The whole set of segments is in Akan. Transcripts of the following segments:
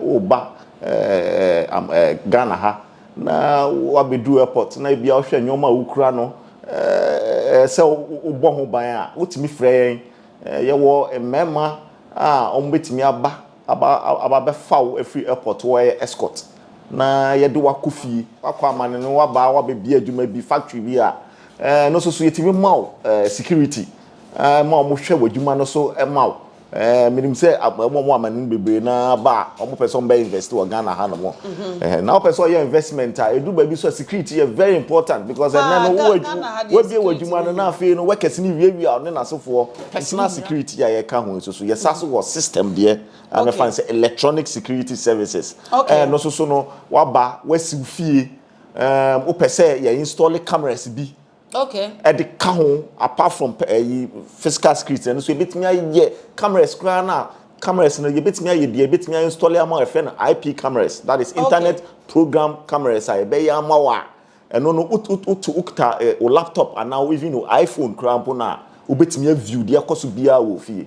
Woba Ghana ha na woabɛduru airport na ebia wohwɛ nneɛma a wokura no sɛ wobɔ ho ban a, wotumi frɛ yɛn. Yɛwɔ mmarima a wɔbɛtumi aba abɛfa wo afiri airport, wɔyɛ escort na yɛde wo akɔ fie. Woakɔ amane no woaba woabɛbie adwuma bi, factory bi a, ɛno nso so yɛtumi ma wo security ma wɔhwɛ w'adwuma no so ma wo. Ɛɛ menim sɛ wɔn wɔn amane no bebree na aba a wɔn pɛ sɛ wɔn bɛ invest wɔ Ghana ha nom. Ɛhɛn na wɔpɛ sɛ wɔyɛ investment a edu baabi so a security yɛ very important because ɛnɛ no wo wabie w'adwuma no na afei no workers no wiawia ɔne n'asefoɔ personal security a yɛka ho nso so yɛsa so wɔ system deɛ a mɛfa no sɛ electronic security services ɛɛ no nso so no waba wasiw fie ɛɛm wopɛ sɛ yɛ install cameras bi. okay ɛde ka ho apart from ɛyi eh, physical security ɛno so ebetumi ayɛ cameras koraa na cameras no yɛbɛtumi ayɛ bia yɛbɛtumi ayɛ install ama ɛfɛ no ip cameras that is internet okay. program cameras a yɛbɛyɛ ama wɔ a ɛno no wotu wokita eh, wo laptop anaa even wo iphone koraa mpo no a wobɛtumi aview deɛ ɛkɔ so biara wɔ fie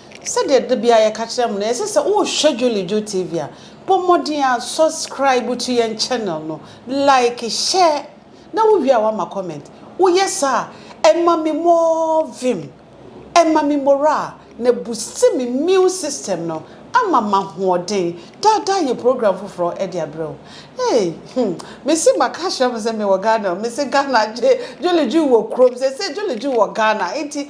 Sɛdeɛ da biara yɛka kyerɛ mo no, ɛyɛ sɛ sɛ wohwɛ Jolly Joe TV a, bɔ mmɔden ara subscribe to yɛn channel no, like, share, na wowie a woama comment. Woyɛ saa a, ɛma me more vim, ɛma me morale, na ɛbusti me immune system no ama m'ahoɔden. Daa daa yɛ program foforɔ de abrɛ wo. Hey, hmm, mese maka ahyɛ mo sɛ mewɔ Ghana o, mese Ghana, Jolly Joe wɔ kurom, seesei Jolly Joe wɔ Ghana, enti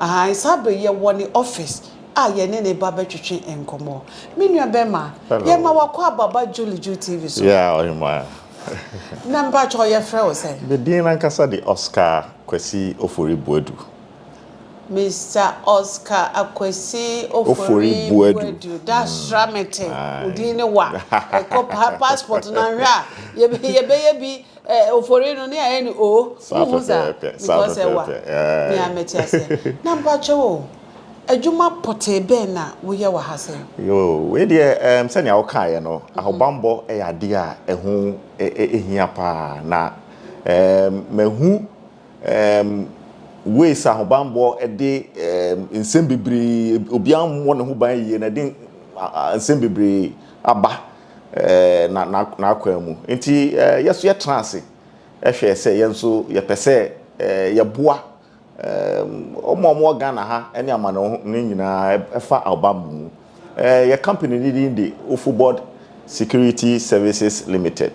Ahaa, saa bere yi yɛwɔ ne office a yɛne ne ba bɛtwetwe nkɔmmɔ. Me nua bɛrima, yɛma wakɔ aba ba Julie Ju TV so. Yeah, ɔhemmaa. Na mpakyɛw yɛfrɛ wo sɛn? Me din ankasa de Oscar Kwasi Ofori Boadu. Mister Oscar Akwasi Ofori Boadu. Da sra mete wo din ne wa. Kɔ passport no anhwɛ a yɛbɛyɛ bi. Eh ofori no ne ayɛ ne oo wo hu saa because ɛwa me a mɛte aseɛ na mpakyɛw o adwuma pɔtee bɛn na wo yɛ wɔ ha sɛ. Yoo wei deɛ ɛɛm sɛnea wo kaeɛ no ahobanbɔ yɛ adeɛ a ɛho hia paa na ɛɛm mahu ɛɛm ways a ahobanbɔ de ɛɛm nsɛm bebree obiara mmɔ ne ho ban yie na ɛde nsɛm bebree aba. n'akwan mu. Enti yɛn nso yɛtena ase hwɛɛ sɛ yɛn nso yɛpɛ sɛ yɛboa wɔn a wɔwɔ Ghana ha ne amanɔne nyinaa ɛfa ahobammɔ mu. Yɛn company no din de Ofobod Security Services Limited.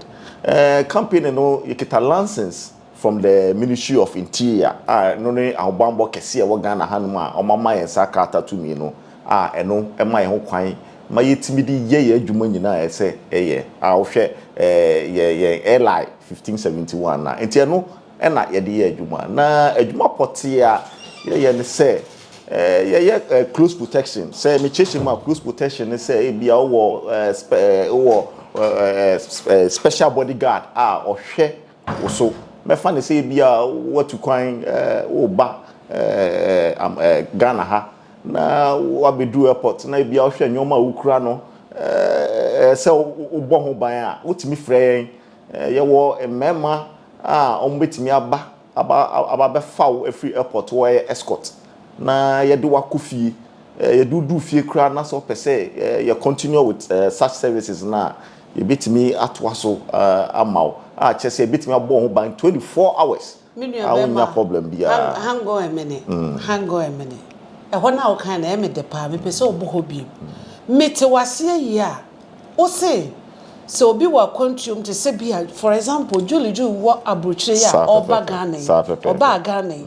Company no yɛkita license. From the Ministry of Interior a ɛno ne ahobanbɔ kɛseɛ a ɛwɔ Ghana hanom a wɔama yɛn saa krataa tumi no a ɛno ma yɛn ho kwan ma yɛtumi de yɛ yɛn adwuma nyinaa a ɛsɛ yɛ a wohwɛ yɛ yɛn LI 1571 a nti ɛno na yɛde yɛ adwuma na adwuma pɔtee a yɛyɛ ne sɛ yɛyɛ close protection sɛ mekyerɛkyerɛ mu a close protection ne sɛ ebia wowɔ wowɔ special body guard a ɔhwɛ wo so. Mɛfa no sɛ ebia woatu kwan woreba Ghana ha na woabɛduru airport na ebia wohwɛ nneɛma a wokura no sɛ wobɔ ho ban a, wotumi frɛ yɛn. Yɛwɔ mmarima a wɔbɛtumi aba abɛfa wo afiri airport hɔ, wɔyɛ escort, na yɛde wo akɔ fie. Yɛde wo duru fie koraa na sɛ wopɛ sɛ yɛ continue with such services no a, Yɛbɛtumi atoa so ama wo a kyerɛ sɛ yɛbɛtumi abɔ wo ho ban twenty four hours Me nua a bɛɛma, wonnya problem biara. hang, hang on a minute, hang on a minute. Ɛhɔ no a wokae no ɛyɛ me dɛ paa, mepɛ sɛ ɔbu hɔ biom. Mete wo aseɛ yie a, wo se sɛ obi wɔ akwantuom te sɛ bi a, for example, Julie Ju wɔ aburokyire yi a Saa ɔreba pɛpɛɛpɛ, Ghana yi, saa pɛpɛɛpɛ. ɔbaa Ghana yi,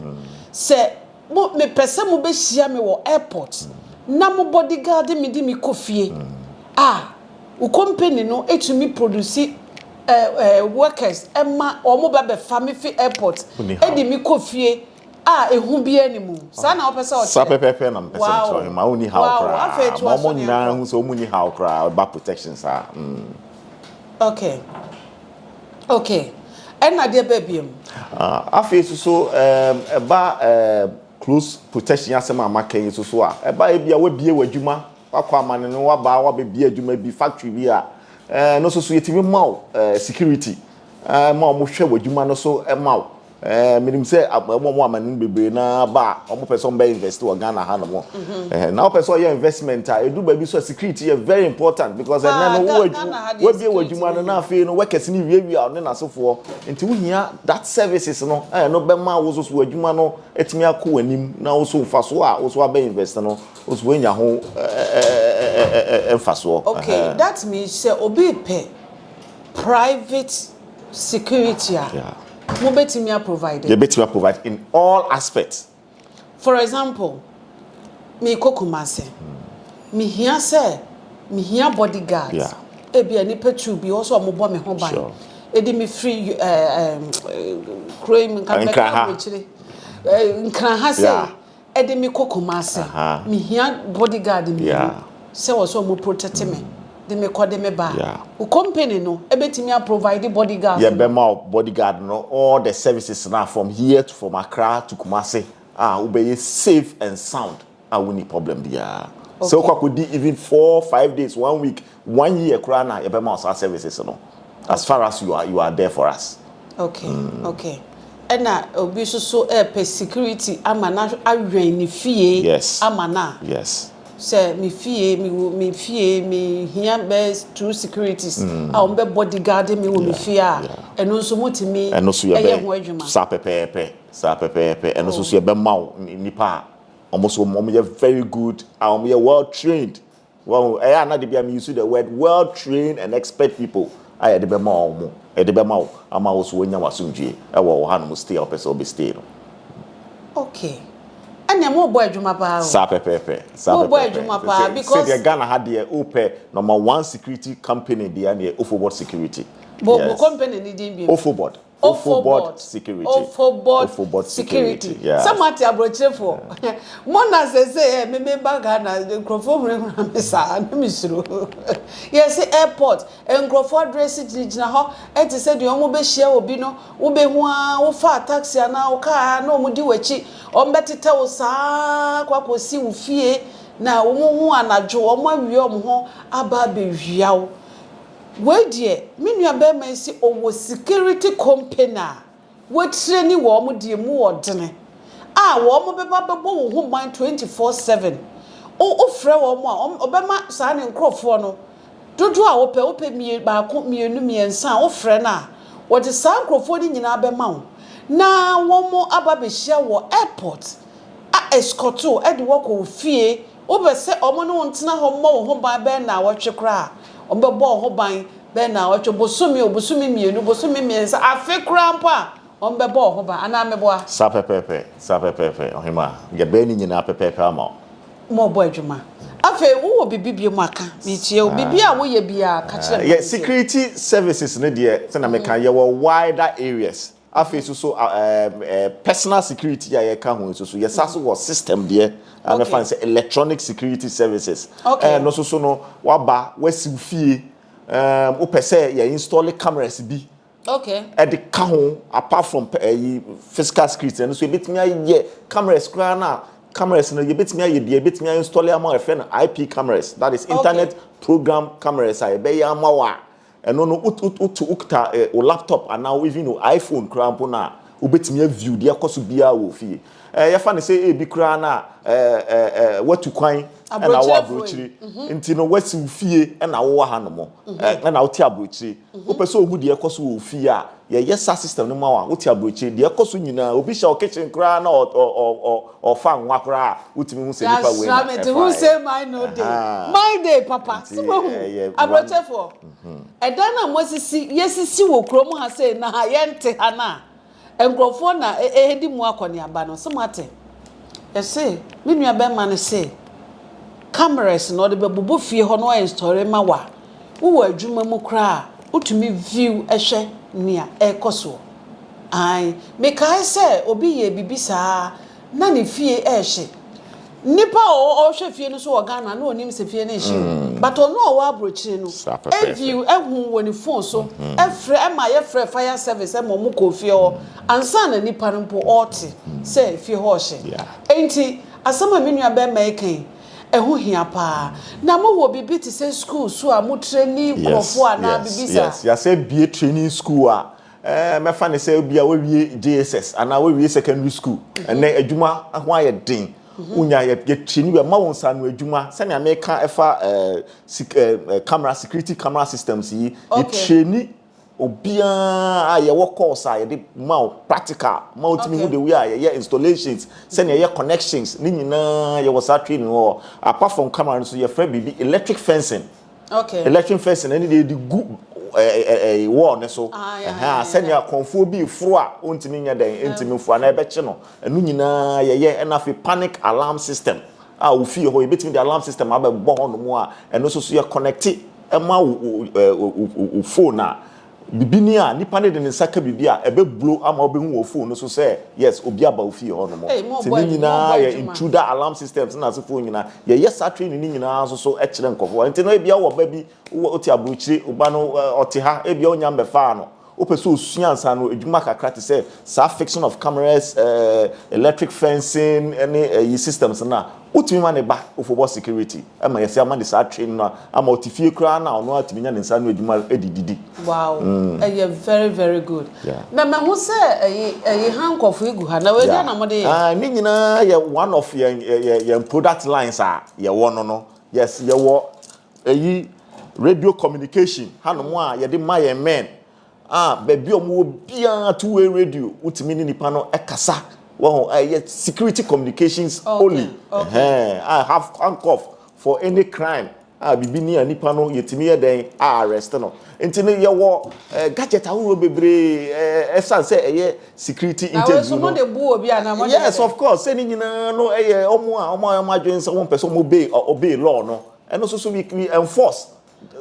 sɛ Mo mepɛ sɛ mo bɛ hyia me wɔ airport na mo bodyguard me de me kɔ fie a wo company no tumi produce eh eh workers ɛma wɔn ba bɛ fa me fi airport ɛde me kɔ fie a ɛhu biara ni mu saa na wɔpɛ sɛ wɔkyerɛ saa pɛpɛpɛ na mpɛ sɛ wɔkyerɛ wɔn ma wɔn ni how koraa ma wɔn nyinaa hu sɛ wɔn ni how koraa ba protection saa mm. Okay. Ok, ɛna deɛ bɛɛ biom. Afei nso so ɛba close protection asɛm a maka yi nso so a, ɛba a ebia wabue w'adwuma, wakɔ amane no, waba wabɛbue adwuma bi, factory bi a, ɛno nso so yɛtumi ma wo security ma wɔhwɛ w'adwuma no so ma wo. Ɛɛ menim sɛ wɔn a amane no bebree na aba a wɔpɛ sɛ wɔbɛ invest wɔ Ghana ha nom. Ɛhɛn na wɔpɛ sɛ wɔyɛ investment a edu baabi so a security yɛ very important because ɛnɛ no wo wabie w'adwuma no na afei no workers no wiawia wo ne n'asefoɔ nti wohia that services no a ɛno bɛma wo so so w'adwuma no atumi akɔ w'anim na wo so mfasoɔ a wo so abɛ invest no wo so woanya ho mfasoɔ. Okay that means sɛ obi repɛ private. Security a, mo bɛtumi a provide. Yɛ bɛtumi a provide in all aspects. For example, me kɔ Kumasi, me hia sɛ, me hia body guards, ɛbi a nipa two bi, ɔsɛ ɔmo bɔ me ho ban, ɛdi me firi ɛɛ ɛɛ kuro yi mu, nka me bɛka abrokyire, ɛɛ Nkran ha sei. Ɛde me kɔ Kumasi. Me hia bodyguard mmienu sɛ wɔ sɛ ɔmo protect me de me kɔ de me ba. Wo company no ɛbɛtumi a provide bodyguard no? Yɛbɛma wo bodyguard no all the services no a from here to from Accra to Kumasi a wo bɛyɛ safe and sound a wo nni problem biara. Sɛ wo kɔ akɔ di even four, five days, one week One year koraa na yɛbɛma wo saa services no as far as you are you are there for us. Okay okay ɛna obi nso so ɛɛpɛ security ama na awɛn ne fie Yes ama no a yes. sɛ me fie mewɔ me fie mehia bɛyɛ two securities a wɔn bɛ body guard me wɔ me fie a yeah. ɛno nso mo tumi Ɛno nso yɛbɛ ɛyɛ ho adwuma. saa pɛpɛɛpɛ saa pɛpɛɛpɛ ɛno nso so yɛbɛma wo nnipa a wɔn nso wɔn yɛ very good a wɔn yɛ well trained. Wahu? Ɛyɛ a na de bi a me use the word well trained and expert people a yɛde bɛ ma wɔn de bɛ ma wo ama wo so wanya w'asomdwie ɛwɔ wɔ hanom stay a wɔpɛ sɛ wɔbɛ stay no. Okay. Ɛnneɛ mo rebɔ adwuma paa o. Saa pɛpɛɛpɛ. Saa pɛpɛɛpɛ. Mo rebɔ adwuma paa because. Sɛ deɛ Ghana ha deɛ o pɛ number one security company deɛ ɛneɛ Ofobot security. Bɔ yes. Bɔ company ni din bi. Ofobot. Ofobod security Ofobod security sɛ mo ate aburokyire foɔ mo na sese ɛ me me ba Ghana nkurɔfoɔ huri hura me saa ne me suro yɛse airport nkurɔfoɔ adresi gyina gyina hɔ ɛte sɛ deɛ ɔmo bɛ hyia obi no wo bɛ hu aa wo faa taxi anaa wo car aa na ɔmo di wakyi ɔmo bɛ tetɛ wo saa kɔ akɔ si wo fie na ɔmo hu anadwo ɔmo awia ɔmo ho aba abɛ wia wo. Wei deɛ me nua barima yi se ɔwɔ security company a watreni wɔn deɛ mu wɔ dene a wɔn bɛba bɛbɔ wo ho ban twenty four seven wo wo frɛ wɔn a wɔn ɔbɛma saa ne nkorɔfoɔ no dodoɔ a wopɛ wopɛ mie baako mienu mmiɛnsa a wo frɛ no a wɔde saa nkorɔfoɔ no nyinaa bɛma wo na wɔn aba bɛhyia wɔ airport a escort wo ɛde wɔkɔ wo fie Wopɛ sɛ wɔn ne wo ntena hɔ mmɔ wo ho ban bɛyɛ nnawɔtwe koraa a, wɔbɛbɔ wo ho ban bɛyɛ nnawɔtwe, bosome o, bosome mmienu, bosome mmiɛnsa, afe koraa mpo a, wɔbɛbɔ wo ho ban. Anaa meboa? Saa pɛpɛɛpɛ, saa pɛpɛɛpɛ, ɔhemmaa. Yɛbɛyɛ ne nyinaa pɛpɛɛpɛ ama wo. Ma ɔbɔ adwuma. Afei, wowɔ biribi biom aka? Meretie o. Biribi a woyɛ biara, ka kyerɛ me ma Yɛ mentie. security services no deɛ, sɛdeɛ meka, yɛwɔ wider areas. Afei nso so personal security a yɛka ho nso so yɛsa so wɔ system deɛ a mɛfa no sɛ electronic security services ɛno nso so no waba wasiw fie wopɛ sɛ yɛ install cameras bi ɛde ka ho apart from ɛyi physical security ɛno nso yɛbɛtumi ayɛ cameras koraa no a cameras no yɛbɛtumi ayɛ bia yɛbɛtumi ayɛ install ama ɛfɛ no IP cameras that is internet program cameras a yɛbɛyɛ ama wɔ a Ɛno no wo wo wote wo kita eh, wo laptop anaa wo even wo iPhone koraa mpo no a, wobɛtumi a view deɛ ɛkɔ so biara wɔ fie. Eh, yɛfa no sɛ ebi koraa no a eh, eh, eh, woatu kwan ɛna wɔ aburokyire nti no woasi wo fie ɛna wowɔ hanom eh, ɛna wote aburokyire. Wopɛ sɛ ohu deɛ ɛkɔ so wɔ wo fie a, Yɛyɛ saa system no ma wo a, wote aburokyire. Deɛ ɛkɔ so nyinaa, obi hyɛ wo kitchen koraa na ɔfa nwa koraa a, wotumi hu sɛ nipa wei na ɛfaeɛ. That's right, who say my no day? My day papa, so wahu, aburokyɛfoɔ, ɛdan no a moasisi, yɛasisi wɔ kurom ha sei na ha yɛnte ha no a, nkorɔfoɔ na ɛredi mu akɔneaba no, so moate? Yɛse, me nua bɛrima no se, cameras no ɔde bɛbobɔ fie hɔ na wa install ma wo a, Wowɔ adwuma mu koraa a, wotumi view hwɛ nea ɛrekɔ soɔ. Aane, mekae sɛ obi yɛɛ biribi saa ara na ne fie rehye. Nnipa a ɔhwɛ fie no nso wɔ Ghana na ɔnim sɛ fie no rehye o, but ɔno a ɔwɔ aburokyire no view, hu wɔ ne phone so, frɛ ma yɛfrɛɛ fire service ma wɔkɔɔ fie hɔ ansa na nipa no mpo ɔrete sɛ fie hɔ rehye. Enti asɛm a me nua barima reka yi, Ɛho hia paa. Na mo wɔ biribi te sɛ sukuu so a mo treni nkorɔfoɔ anaa biribi saa? Yes, yes. Yɛasɛ bue training school a mɛfa no sɛ ebia woawie JSS anaa woawie secondary school. Ɛnnɛ adwuma ho ayɛ den. Wonya yɛ yɛ treni yɛma wo nsaano adwuma. Sɛnea meka ɛfa eh sik eh camera security camera systems yi, yɛ treni. Obiara a yɛwɔ course a yɛde ma wo practical ma wotumi hu the way a yɛyɛ installations, sɛnea yɛyɛ connections ne nyinaa yɛwɔ saa training wɔ hɔ. Apart from camera no nso yɛfrɛ biribi electric fencing. Okay. Electric fencing ɛne deɛ yɛde gu ɛɛ wall ne so. Ah, yeah, yeah, yeah. Sɛnea kɔnfoɔ bi foro a ontumi nyɛ dɛn ntumi mfo anaa ɛbɛkye no. Ɛno nyinaa yɛyɛ ɛna afei panic alarm system a wofie hɔ yɛbɛtumi de alarm system abɛbɔ hɔnom a ɛno nso so yɛ connecte ma wo wo wo wo phone a, biribi ni a, nipa no de ne nsa ka biribi a, ɛbɛ blow ama wo bɛ hu wɔ phone no so sɛ yes obi aba wo fie hɔ nom. Ei mo Nti bɔ ne adwuma nyinaa ɔbɔ yɛ adwuma. intruder alarm systems no asefoɔ nyinaa. Yɛ yɛ saa training no nyinaa nso so kyerɛ nkorɔfoɔ. Nti no ebia wo wɔ ba bi, wo te abrokyire, wo ba no ɔte ha, ebia wo nya mmɛfaa no. Wopɛ sɛ osua nsaano adwuma kakra te sɛ saa fixing of cameras, electric fencing ne ayi systems no a, wotumi ma ne ba ofobɔ security ma yɛse ama ne saa training no ama ɔte fie koraa no a ɔno ara tumi nya ne nsa ano adwuma de didi. Wow ɛyɛ very very good na mahu sɛ ɛyi ɛyi ha nkɔfoɔ gu ha na wei deɛ na mo de yɛ. Yeah ne nyinaa yɛ one of yɛn yɛn yɛn product lines a yɛwɔ no no yes yɛwɔ Eyi, radio communication hanom a yɛde ma yɛn men a baabi a wɔwɔ biara two way radio wotumi ne nipa no kasa wɔho a ɛyɛ security communications only ɛhɛn a have handcuff for any crime a biribi ni a nipa no yɛtumi yɛ dɛn a arrest no nti no yɛwɔ eh, gadget ahorow bebree eh, ɛsan sɛ ɛyɛ security interview no yes of course sɛ ne nyinaa no ɛyɛ ɔmo a ɔmo a ɔmo adwene sɛ wɔn pɛ sɛ ɔmo obey obey law no. ɛno soso we we enforce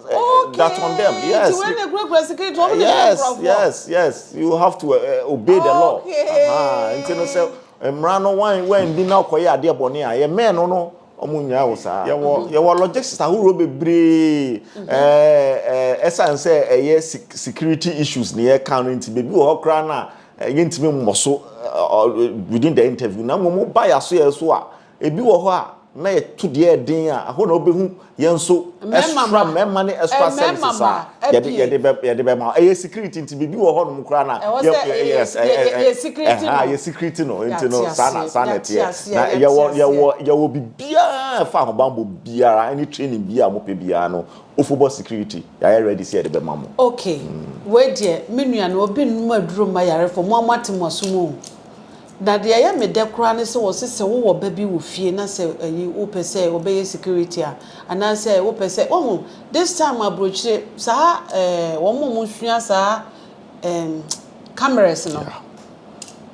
okay. that on them yes ti wei na ekura kura sikiri ti wɔn na ekura yes yes yes you have to uh, obey the law nti no sɛ mmara no wɔn wɔn bi na ɔkɔ yɛ adeɛ bɔ ne a yɛ mɛn no no wɔn nyinaa wɔ saa yɛwɔ yɛwɔ logistics ahorow bebree ɛɛ ɛsan sɛ ɛyɛ security issues na yɛ kan no nti beebi wɔ hɔ koraa na yɛntumi mmɔ so within the interview na mmom ba yɛ aso yɛ so a. Ebi wɔ hɔ a, na yɛto deɛ ɛyɛ den a, ɛhɔ na wobɛhu yɛn nso Mmarima extra ma. mmarima ne extra Ɛɛ, mmarima services a ma. yɛde Ɛdeɛ. yɛde bɛ yɛde bɛma wo. Ɛyɛ security nti biribi wɔ hɔnom koraa na Ɛwɔ sɛ yɛ- yɛ- yes, yɛ- ɛ- ɛ- yɛ- ɛ- yɛ security ɛhã, no. yɛ security no nti no Yɛate saa na aseɛ, saa na yɛate ɛteɛ. aseɛ, Na yɛate yɛwɔ aseɛ. yɛwɔ yɛwɔ biribiara a ɛfa ahobammɔ biara ɛne training biara a mopɛ biara no, Ofobɔ security yɛayɛ ready sɛ yɛde bɛma mo. Okay, wei deɛ me nua no obi nnom aduro mma yarefo mo a moate mo asom oo. Na deɛ ɛyɛ me dɛ koraa ne sɛ wɔse sɛ wowɔ ba bi wɔ fie na sɛ ayi wopɛ sɛ ɔbɛyɛ security a anaasɛ wopɛ sɛ woahu this time aburokyire saa eh wɔn a wɔn sua saa eh cameras no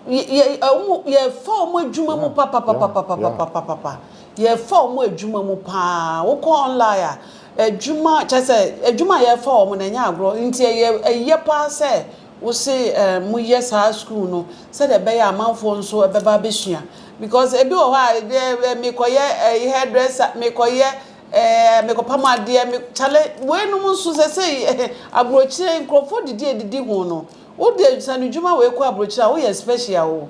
yɛ yɛ wɔn yɛfa wɔn adwuma mu papapapapapapapapa yɛfa wɔn adwuma mu paa wokɔ online a adwuma kyɛ sɛ adwuma a yɛfa wɔn na ɛnyɛ agorɔ nti ɛyɛ ɛyɛ paa sɛ Wo se mo yɛ saa school no sɛdeɛ ɛbɛyɛ a amanfoɔ nso bɛba abɛsua because ebi wɔ hɔ a ɛdeɛ mekɔyɛ eh, hair dresser mekɔyɛ eh, mekɔpam adeɛ me kyale wei nom nso sɛ sɛ eh, aburokyire nkurɔfoɔ didi edidi ho no wode sanedwuma wei kɔ aburokyire a woyɛ special o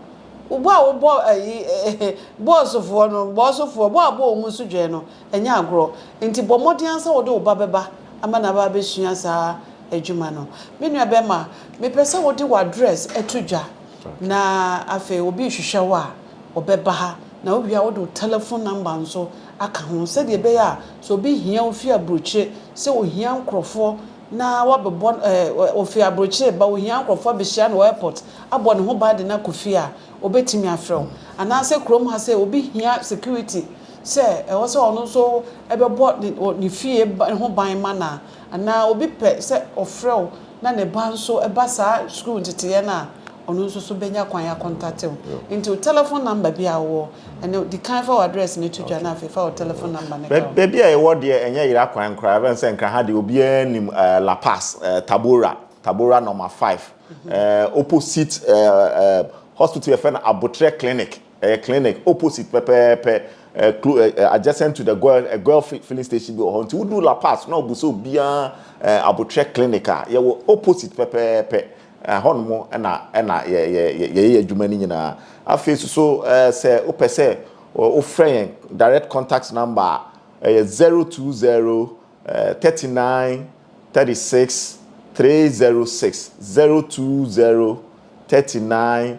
wobɔ a wobɔ ɛyi eh, eh, bɔɔsofoɔ no bɔɔsofoɔ bɔ a bɔ wɔn nso dwɛn no Ɛnyɛ agorɔ. Enti bɔ mmɔden ara sɛ wode wo ba bɛba ama no aba abɛsua saa adwuma no. Me nua barima, mepɛ sɛ wode w'address to dwa, na afei obi rehwehwɛ wo a, ɔbɛba ha, na wowie a, wode wo telephone number nso aka ho, sɛdeɛ ɛbɛyɛ a, sɛ obi hia wo firi aburokyire, sɛ ɔhia nkorɔfoɔ na wabɛbɔ, ɛɛ, ɔfiri aburokyire reba, ɔhia nkorɔfoɔ abɛhyia no wɔ airport, abɔ ne ho ban de no akɔ fie a, ɔbɛtumi afrɛ wo. Anaasɛ kurom ha sɛ obi hia security, sɛ ɛwɔ sɛ ɔno nso bɛbɔ ne fie ho ban ma no a, anaa obi pɛ sɛ ɔfrɛ wo na ne ba nso ba saa sukuu nteteeɛ no a, ɔno nso so bɛnya kwan akɔntate wo. Nti wo tɛlɛfon namba bi a wowɔ no, di kan fa w'adrɛs no to dwa na afei fa wo tɛlɛfon namba no ka ho. Baabi a yɛwɔ deɛ, ɛnyɛ yera kwan koraa. Ɛbɛn sɛ nka ha deɛ obiara nim La Paz, Tabora, Tabora Nɔma Five, opposite hospital a yɛfrɛ no Abotrɛ Clinic. Ɛyɛ clinic opposite pɛpɛɛpɛ eh, clo eh, eh, adjacent to the goil, eh, goil filling station bi wɔ hɔ nti wodu la pass na ɔbu sɛ obiara eh, abotrɛ clinic a yɛwɔ opposite pɛpɛɛpɛ eh, hɔnom ɛna ɛna yɛyɛ yɛ, yɛ, yɛ, adwuma no nyinaa afei so so eh, sɛ wopɛ sɛ wofrɛ yɛn direct contact number a ɛyɛ 020 eh, 39 36 306 020 39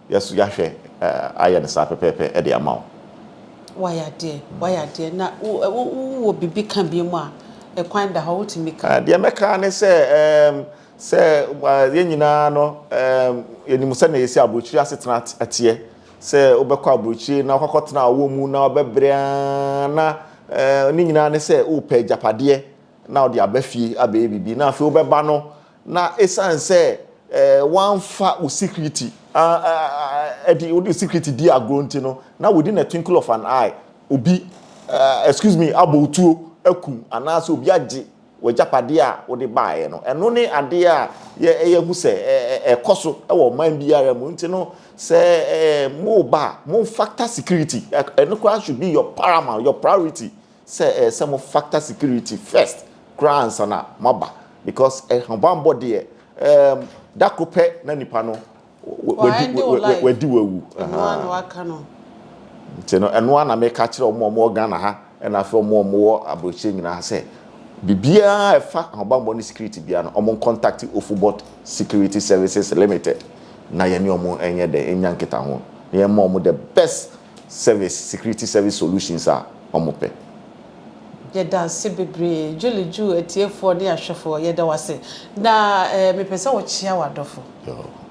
Yɛ so yɛahwɛ ayɛ no saa pɛpɛɛpɛ de ama wo. Wayɛ adeɛ, wayɛ adeɛ, na wo wo wowɔ biribi ka biom a, ɛkwan da hɔ, wotumi ka. Deɛ mɛka ara ne sɛ, ɛɛm, sɛ yɛn nyinaa no, ɛɛm, yɛnim sɛdeɛ yɛsi aburokyire asetena teɛ, sɛ wobɛkɔ aburokyire na woakɔkɔtena ɔwɔ mu na wobɛbrɛ ara, na, ɛɛm, ne nyinaa ne sɛ worepɛ agyapadeɛ na wode aba fie abɛyɛ biribi, na afei wobɛba no, Na esiane sɛ woamfa wo security di, wode security di agorɔ nti no, na within a twinkle of an eye, obi, excuse me, abɔ wo tuo, akum, anaasɛ obi agye w'agyapadeɛ a wode baeɛ no. Ɛno ne adeɛ a yɛahu sɛ ɛkɔ so wɔ ɔman biara mu. Nti no, sɛ moreba a, momfactor security. Ɛno koraa should be your paramount, your priority sɛ ɛyɛ sɛ mo factor security first koraa ansa na mo aba because ahobanbɔ deɛ ɛɛm da koro pɛ na nipa no wadi wawu ahaa nti no ɛnoa na meka kyerɛ ɔmo ɔmo wɔ Ghana ha ɛna afei ɔmo ɔmo wɔ abrokyire nyinaa sɛ bibiara ɛfa ahobanbɔ ne security biara no ɔmo contact Ofubot security services limited na yɛne ɔmo ɛnyɛ dɛ ɛnya nkita ho na yɛma ɔmo the best service, security service solutions a wɔpɛ. Yɛda ase bebree Julie Ju atiefoɔ ne ahwɛfoɔ yɛda wo ase na eh mepɛ sɛ wo kyea w'adɔfo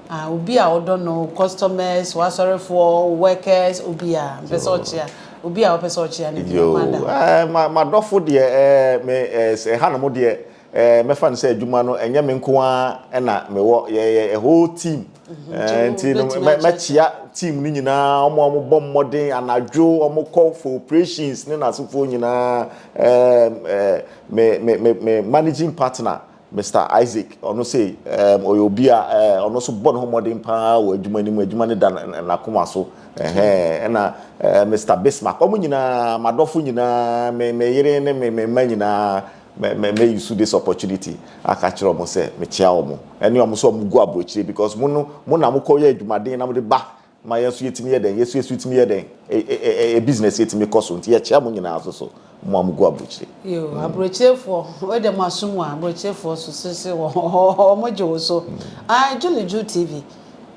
ah obi a wodɔ no wo customers w'asɔrefoɔ wo workers obiara mepɛ sɛ ɔkyea obi a wopɛ sɛ ɔkyea no bi Yoo Amanda. eh ma m'adɔfo deɛ eh me eh sɛ ɛha nom deɛ Eh, mɛfa no sɛ adwuma no ɛnyɛ me nko ara na mewɔ, yɛyɛ a whole team. Mhm. Eh, nti no mɛkyia team no nyinaa, wɔn a wɔbɔ mmɔden anadwo, wɔkɔ for operations ne n'asefoɔ nyinaa. Eh, eh, me, me, me, me managing partner, Mr. Isaac, ɔno sɛ eh, ɔyɛ obi a eh, ɔno nso bɔ ne ho mmɔden paa wɔ adwuma no mu, adwuma no da n'akoma so. Ɛhɛn, ɛna eh, Mr. Bismarck, wɔn nyinaa, m'adɔfo nyinaa, me, me yere ne me, me mma nyinaa, Me me me use this opportunity aka akyerɛ wɔn sɛ mekyea wɔn ɛne wɔn sɛ wɔn gu aburokyire because mo no mo na mo kɔ yɛ adwumaden na mo de ba ma yɛn nso yɛtumi yɛ dɛn yɛso yɛso tumi yɛ dɛn e e e e e business yɛtumi kɔ so nti yɛkyea mo nyinaa nso so mo a mo gu aburokyire. Yoo aburokyirefoɔ wei deɛ mo aso mu a aburokyirefoɔ so sese wɔ wɔn gye wo so ae Julie Ju TV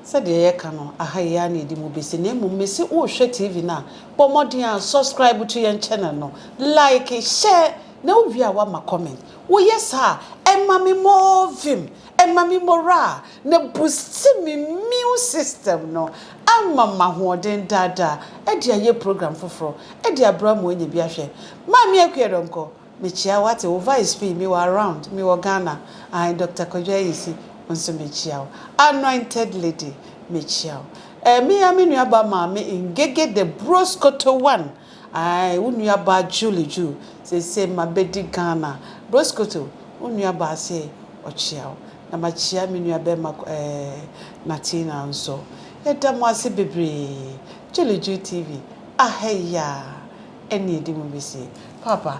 sɛdeɛ yɛ ka no aha yi ara na yɛde mu besi na mmom me se wo rehwɛ TV no a bɔ mmɔden a subscribe to yɛn channel no like share Na wo wie a woama comment. Wo yɛ saa a ɛma me more vim, ɛma me morale na boosti me immune system no ama mahoɔden daa daa ɛde ayɛ program foforɔ ɛde abra mo anya bi ahwɛ. Maame Akua Donkor me kyia wo wate wo vice fii me wɔ around me wɔ Ghana ae Doctor Kwadwo Ayisi wo nso me kyia wo Anointed Lady me kyia wo ɛɛ me ya me nua ba maame Ngege the Broskoto one Ae wo nuabaa Julie Ju seesei mabɛdi Ghana Broscoto wo nuabaa se ɔkyea wo na makyea me nuabɛɛma eh Natina nso Yɛda mo ase bebree Julie Ju TV ahɛ yaa ɛne ɛdi mu besie Paapa